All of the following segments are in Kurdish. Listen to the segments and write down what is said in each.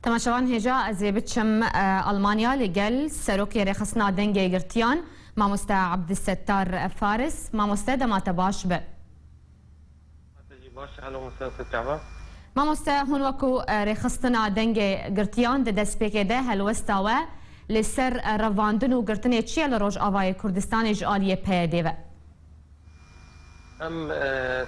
Temaşevan hêja ez ê biçim Almanya li gel Serokê Rêxistina Dengê Yekgirtiyan Mamoste Abdisettar Faris. Mamoste dema te baş be. Mamoste hûn wek ku Rêxistina Dengê Girtiyan di destpêkê de helwesta we li ser revandin û girtinê çi ye li Rojavayê Kurdistanê ji aliyê PYD'ê ve? Em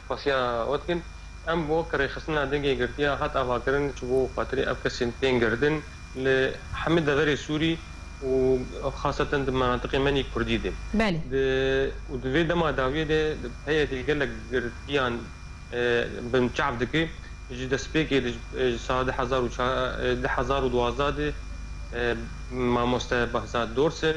spasiya we dikin. Em bi wek rêxistina dengê girtiya hat avakirin ji bo xatirê ev kesên tên girtin li hemî deverê Sûrî û xasetan di menatiqê menî Kurdî de. Belê. Û di vê dema dawiyê de PYD'ê gelek girtiyan binçav dike. Ji destpêkê de ji sala du hezar û duwazdeh de mamoste Behzad Dorsin,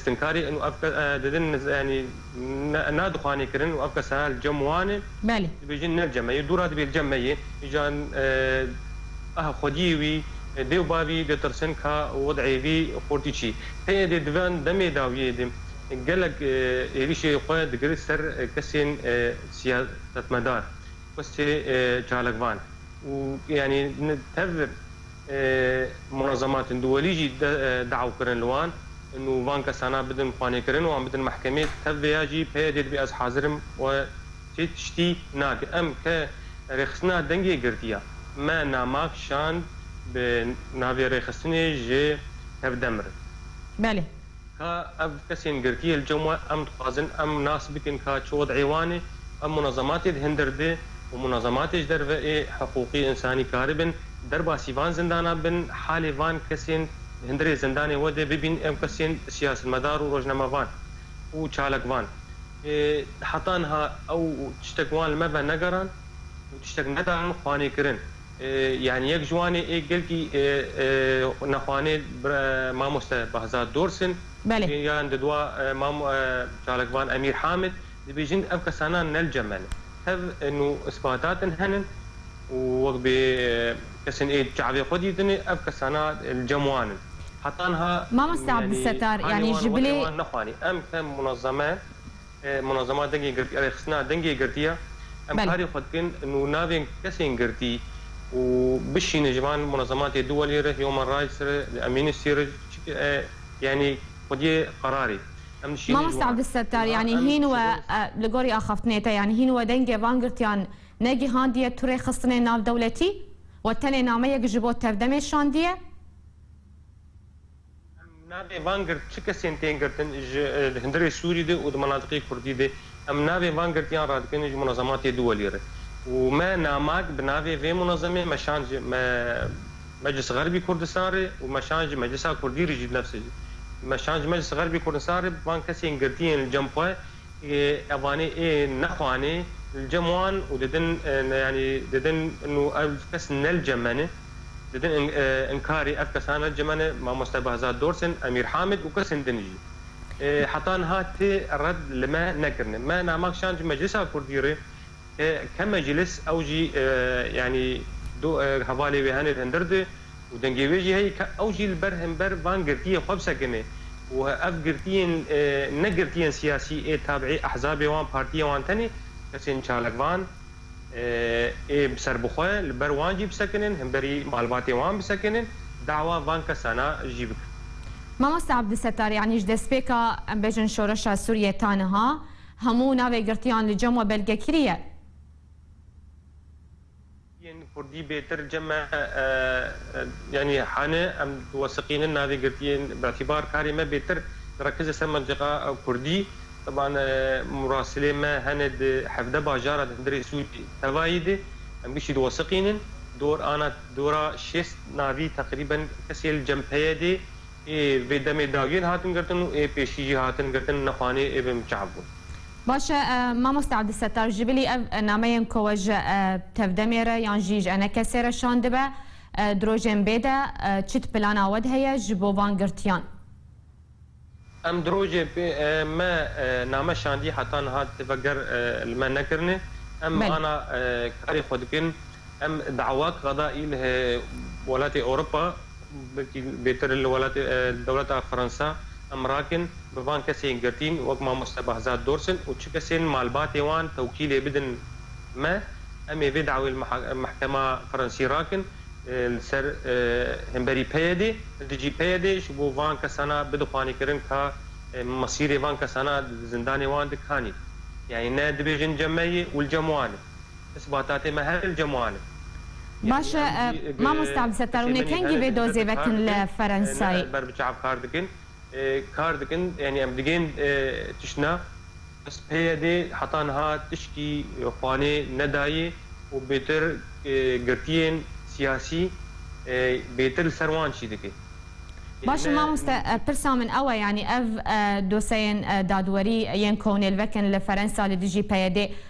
Stinkarî in û ev kes didin yanî na dixwanê kirin û ev kes herha li cem wan e. Belê. Dibêjin ne li cem me ye, dû ra dibê li cem me ye. Îjan aha xwediyê wî, dê û bavî ditirsin ka wed'ê wî xortî çî. Tê êdî di van demê dawiyê de gelek êrîşê xwe digirt ser kesên siyasetmedar, kesê çalakvan û yanî tev Munezematên duwelî jî dew kirin li wan nû van kesana bidin xwanêkirin wan bidin mehkemê tev vêya jî peyê dê dibê ez hazir im we çê tiştî nake em ke rêxistina dengê girtiya me namag şand bi navê rêxistinê ji tevdemirin. Belê. Ka ev kesên girtiyê li cem we em dixwazin em nas bikin ka çi wez'ê wan e, ev munezematê di hindir di û munezematê ji derve ê hiqûqî însanî karibin derbasî van zindana bin, halê van kesên di hindirê zindanê we de bibîn ew kesên siyasetmedar û rojnamevan û çalakvan ê heta niha ew tiştek wan li me ve negeran û tiştek nedarin xwanê kirin. Yan yek ji wan ê gelkî nexwanê mamoste Behzad Dorsin û yan di dua çalakvan Emîr Hamid dibêjin ev kesanan nel ceme ne. Hev in û îsbatatin henin û wek bê kesên ê çavê xwe dîtinê ev kesana li cem wan in. Heta niha yanî hanê wan were wan nexwanî. Em ke munezeme. Munazema dengê girtî ya rêxistina dengê girtî ya em karê xwe dikin û navên kesên girtî û bişînin ji van munazematê duwelî re, human rights re, amnesty re çikê e yanî xwediyê qerarê em dişînin ji wan. Mamosta Abdulsettar yanî hîn we li gorî axaftinê te yanî hîn we dengê van girtiyan negihandiye tu rêxistinên navdewletî we tenê nameyek ji bo tevdemê şandiye? Em navê van girt çi kesên tên girtin ji hundirê Sûrî de û di menatiqê Kurdî de em navê van girtiyan radikin ji munezematê duwelî re û me namak bi navê vê munezemê me şand ji Meclis Xerbî Kurdistan re û me şand ji Meclisa Kurdî re jî nefsê jî me şand ji Meclis Xerbî Kurdistan re van kesên girtiyên li cem xwe Evanê ê nexwanê li cem wan û didin yanî didin nû ev kes ne li cem me ne. Didin inkarê ev kesan ne li cem me ne Mamoste Behzad Dorsen, Emîr Hamid û kesên din jî. Heta niha ti red li me nekirine. Me Namak Şan ji Meclisa Kurdî re Ke ke meclis ew jî yanî du hevalê wê hene hindir di û dengê wê jî heye ke ew jî li ber hember van girtiyê xwe bisekinê û ev girtiyên ne girtiyên siyasî ê tabiî ehzabê wan partiyê wan tenê kesên çalakvan ê bi ser bi xwe li ber wan jî bisekinin hemberî malbatê wan bisekinin dawa van kesana jî bikin. Mamoste Abdulsettar yanî ji destpêka em bêjin şoreşa Sûriyê ta niha, Hemû navê girtiyan li cem we belge kirî ye. Yên kurdî bêtir cem e yanî hane em diwesiqînin navê girtiyên bi'tîbar karê me bêtir direkize ser mentiqa kurdî. Teban murasilê me hene di hevdeh bajara di hundirê Sûcî tevayî de em bişî diwesiqînin. Dor ana dora şêst navî teqrîben kesê li cem peye dê Ê vê demê dagir hatin girtin û ê pêşî jî hatin girtin ne xwanê ê bin çav bûn. Baş e mamoste Abdulsettar ji bilî ev nameyên ku we ji tevdemê re yan jî ji ene kesê re şandibe di rojên bê de çi di plana we de heye ji bo van girtiyan? Em di rojê bê me name şandî heta niha têveger li me nekirine. Em ana karê xwe dikin. Em dawak qada î li welatê Ewropa. Belkî bêtir li welatê dewleta Fransa em rakin bi van kesên girtîn wek mamoste Behzad Dorsin û çi kesên malbatê wan tewkîlê bidin me, em ê vê dawê li mehkema Fransî rakin li ser hemberî PYDê, li dijî PYDê ji bo van kesana bidixwanî kirin ka mesîrê van kesana di zindanê wan dikanî. Yanî ne dibêjin cem me ye û li cem wan e. Isbatatê me herin cemal in. Baş e mamosta Abdisettar hûn ê kengî vê dozê vekin li Ferensayê? Em ber bi çav kar dikin, kar dikin yanî em digên tiştna. Bes PYDê heta niha tişkî Xwanê nedayê û bêtir girtiyên siyasî bêtir li ser wan çî dike. Baş e mamosta pirsa min ew e yanî ev dosyeyên dadwerî yên kownêl vekin li Ferensa li dijî PYDê,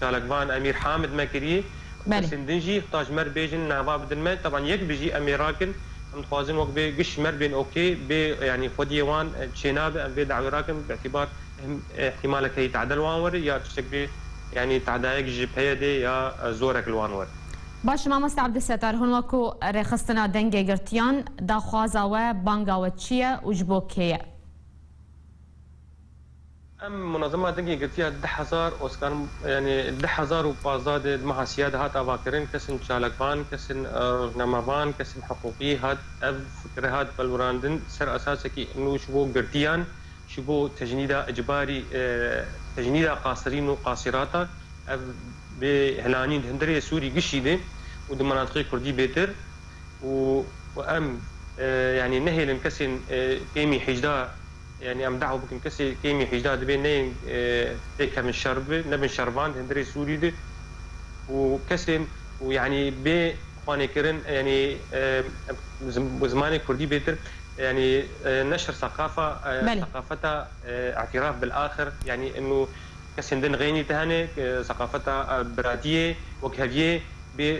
Çalakvan Emîr Hamid me kirî û kesên din jî heta ji me re bêjin nava bidin me. Teban yek bijî em ê rakin. Em dixwazin wek bê giş ji me re bên ok bê yanî xwediyê wan çênabe em vê dawê rakin bi îtîbar îhtimalek heye teada li wan were ya tiştek bê yanî teadayek ji PYDê ya zorek li wan were. Baş e mamoste Ebdulsetar hûn wek ku rêxistina dengê girtiyan daxwaza we banga we çi ye û ji bo kê ye? Em Munazema Dengê girtiya deh hezar Oskar yanî deh hezar û pazdeh de di meha Sîya de hat avakirin, kesên çalakvan, kesên rojnamevan, kesên hiqûqî hat ev fikre hat pelwirandin ser esasekî nû ji bo girtiyan, ji bo tecnîda icbarî, tecnîda qasirîn û qasîrata ev bê hilanîn di hundirê Sûrî gişî de û di minatiqê Kurdî bêtir û em yanî nehêlin kesên pêmî hîjda. Yanî em dawa bikin kesê kêmî hîcdeh dibê neyên tê kevin şer bibe, nebin şervan di hundirê Sûrî de û kesên û yanî bê xwanêkirin yanî bi zimanê Kurdî bêtir yanî neşr seqafa seqafeta îtîraf bil axir yanî inu kesên din xênî te hene seqafeta biratiyê wek heviyê bê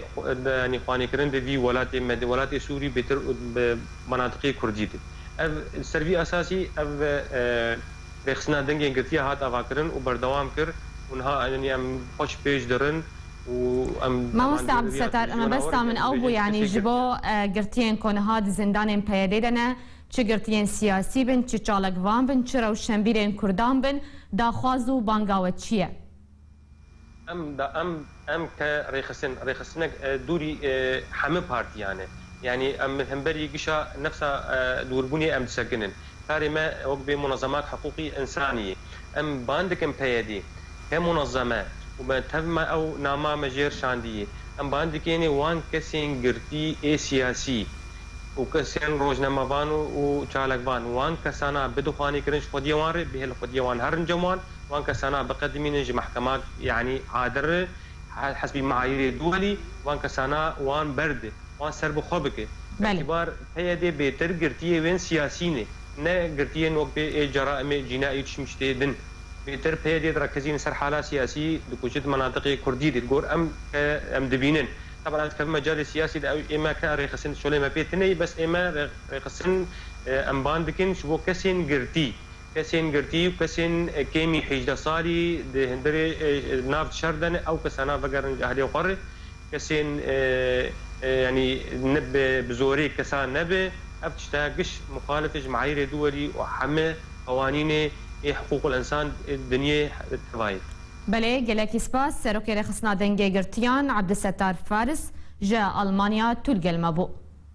yanî xwanêkirin di vî welatê me di welatê Sûrî bêtir û bi manatiqê Kurdî de. Ev li ser vî esasî ev rêxistina dengên girtiye hat avakirin û berdewam kir û niha yanî em xwe ji pêş dirin û em Mamoste Abdisetar mebesta min ew bû yanî ji bo girtiyên ku niha di zindanên PYD'ê de ne çi girtiyên siyasî bin, çi çalakvan bin, çi rewşenbîrên kurdan bin daxwaz û banga we çi ye? Em da em em ke rêxistin rêxistinek dûrî heme partîyan e. Yanî em li hemberî gişa nefsa dûrbûnê em disekinin. Karê me wek bê munezemat hiqûqî însanî yê. Em bang dikin PYD ke munezem e û me tev me ew nama me jêr şandiyê. Em bang dikênê wan kesên girtî ê siyasî û kesên rojnamevan û çalakvan wan kesana bidixwanî kirin ji xwediyê wan rê bihêlin xwediyê wan herin cem wan. Wan kesana biqedimînin ji mehkemak yanî adir re hesbî meayîrê duwelî wan kesana wan berde wan ser bi xwe bike. Îtîbar PYD bêtir girtiyê wên siyasî ne, ne girtiyên wek bê ê ceraîmê cîna ê çimş tê din. Bêtir PYD direkezînin ser hala siyasî dikuje di menatiqê kurdî de. Li gor em ke em dibînin. Teban ez dikevim mecalê siyasî de ew ê me ke rêxistin di şolê me pê tine yî bes ê me rêxistin em ban dikin ji bo kesên girtî. Kesên girtî û kesên kêmî hêjdeh salî di hundirê nav şer de ne, ew kesan a vegerin ji ahliyê xwe re. Kesên yanî ne bi bi zorê kesan nebe. Ev tişta giş muxalif e ji me'ayîrê duwelî û heme qewanînê ê hiqûqul ensan ê dinyê teva ye. Belê, gelekî spas. Serokê Rêxistina Dengê Girtiyan Abdulsettar Faris ji Almanya Tûlgel ma bû.